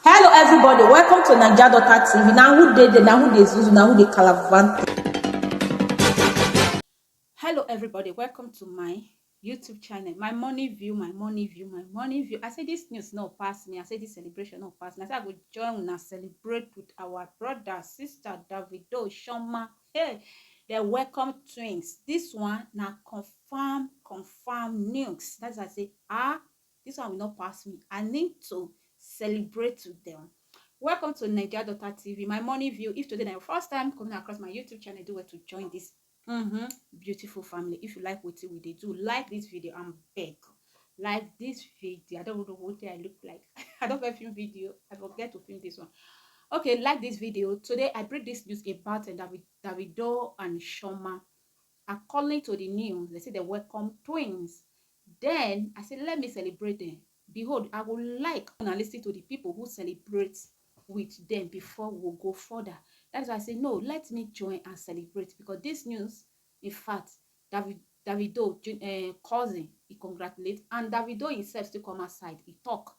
hello everybody welcome to naija daughter tv na who dey there na who dey zuzu na who dey calavante. hello everybody welcome to my youtube channel my morning view my morning view my morning view i say this news no pass me i say this celebration no pass me i say i go join una celebrate with our brother sister davido shoma hey dem welcome twins this one na confam farm confam nukes that's why i say ah this one will not pass me i need to celebrate to them welcome to nigeria daughter tv my morning view if today na your first time coming across my youtube channel do well to join this mm -hmm, beautiful family if you like what we dey do like this video and beg like this video i don't know what i look like i don't get film video i forget to film this one okay like this video today i bring this news about uh, david davido and shoma According to di news, dem say dem welcome twins. Den I say, Let me celebrate dem. Behold, I go like una listen to di pipo who celebrate wit dem before we go go further. Dat is why I say, No, let me join and celebrate because dis news, in fact, Davi, Davido um, cousin, e congratulate and Davido himself still come outside, e tok.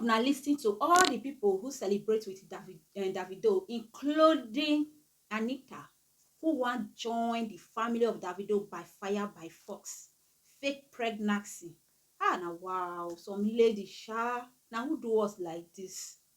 una lis ten to all the people who celebrate with David, uh, Davido, including Anita, who wan join the family of Davido by fire by force. Fake pregnancy. Ah, na wow, some lady sha. Na who do us like this?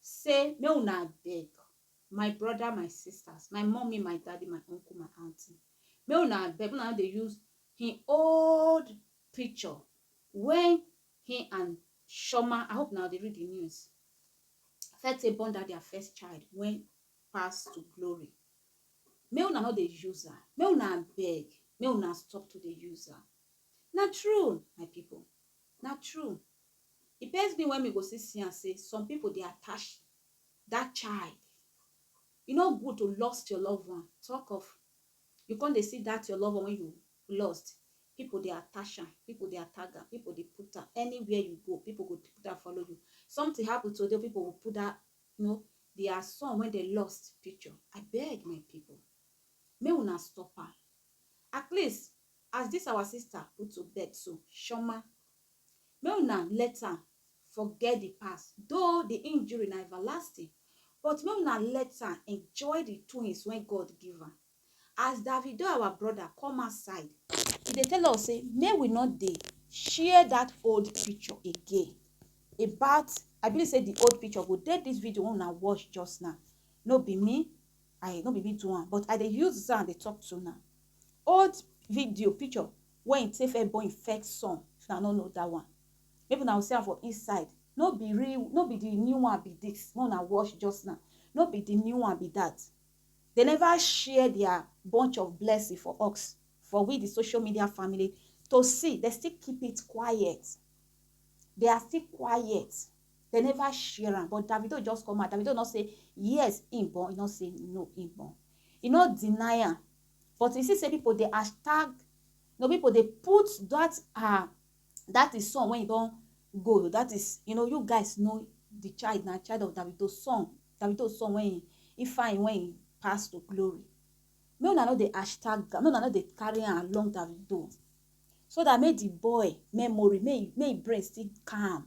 say make una abeg my brother my sisters my mommy my daddy my uncle my aunty make una abeg una no dey use him old picture when he and Shoma I hope now dey read the news Fete born that their first child when pass to glory make una no dey use am make una abeg make una stop to dey use am na true my people na true Di best tin wen me go still see am say some pipo dey attach dat child, e no good to lost your love one talk of you come dey see dat your love one wey you lost pipo dey attach am, pipo dey attach am, pipo dey put am anywhere you go pipo go put am follow you. Something happen today pipo go put dat you know dia son wey dem lost picture abeg my pipo make una stop am at least as dis our sister put to bed so chioma Make una let am forget di past though di injury na everlasting but make una let am enjoy di twins wey God give am. As Davido our brother come outside, e dey tell us say make we no dey share dat old picture again about I believe say di old picture go dey dis video wey una watch just now, no be me I no be me do am but I dey use am dey talk to una. Old video picture Where him take first born him first son if una no know that one maybe una go see am for inside no be real no be the new one be this make una watch just now no be the new one be that they never share their bunch of blessing for us for we the social media family to see they still keep it quiet they are still quiet they never share am but Davido just come out Davido no say yes him born he no say no him born he no deny am But you see say people dey hashtag no people dey put that her that is son when you don go that is you know you guys know the child na child of Davido's son Davido's son when he, he fine when he pass to glory make una no dey hashtag make una no dey carry am along Davido so that make the boy memory make make brain still calm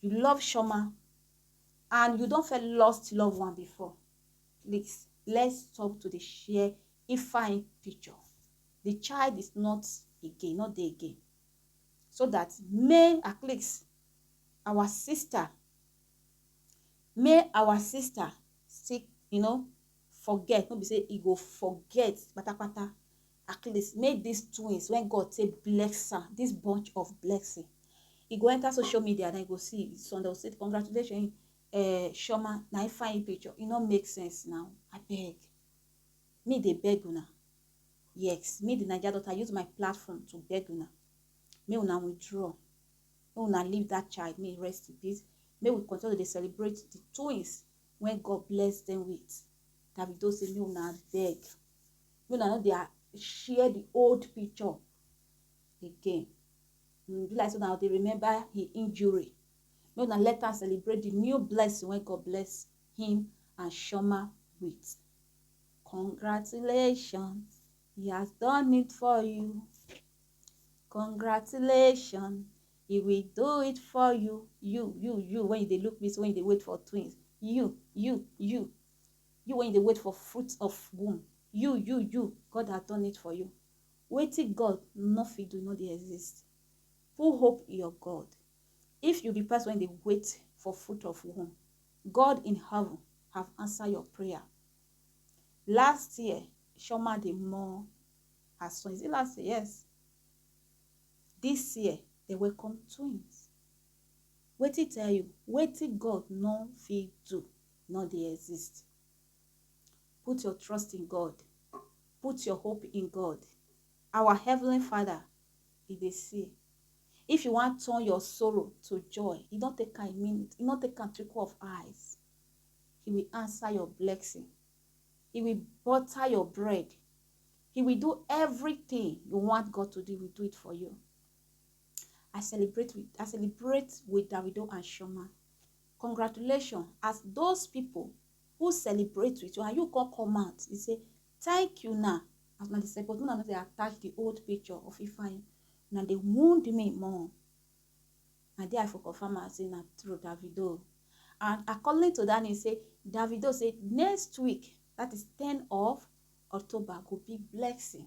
You love Shoma and you don fẹ́ lost loved one before. Please, let's stop to dey share Ifeanyi picture. The child is not again, not there again. So that may at least our sister, may our sister seek, you know, forget. No be say e go forget patapata. Atleast make dis twins wen God take bless am dis bunch of blessing e go enter social media den go see some dem go say congratulations eh Chioma na im fine picture e no make sense now abeg me dey beg una yes me the Naija daughter use my platform to beg una make una withdraw make una leave that child make e rest in peace make we continue to dey celebrate the twins wey God bless them with Davido say make una beg make una no dey ah, share the old picture again. Mm, be like so now they remember his injury. Make una let am celebrate the new blessing when God bless him and Shoma with. Congratulations, he has done it for you. Congratulations, he will do it for you. You, you, you, when you dey look me, so when you dey wait for twins. You, you, you. You wey you dey wait for fruit of womb, you, you, you, God has done it for you. Wetin God no fit do no dey exist. Put hope in your God. If you be person wey dey wait for fruit of womb, God in heaven have answered your prayer. Last year, Shoma dey mourn her son. Is it last year? Yes. This year, they welcome twins. Wetin tell you? Wetin God no fit do no dey exist. Put your trust in God. Put your hope in God. Our Heavenly Father, He dey see. If you wan turn your sorrow to joy, e no take am a minute, e no take am trickle of eyes. He will answer your blessing. He will butter your bread. He will do everything you want God to do. He will do it for you. I celebrate with I celebrate with Davido and Shoma. Congratulations as those people who celebrate with you and you come come out you say thank you na as una dey celebrate una no dey attach the old picture of Ifeanyi una dey wound me more na there I for confirm am say na true Davido and according to that news say Davido say next week that is ten of October go be blessing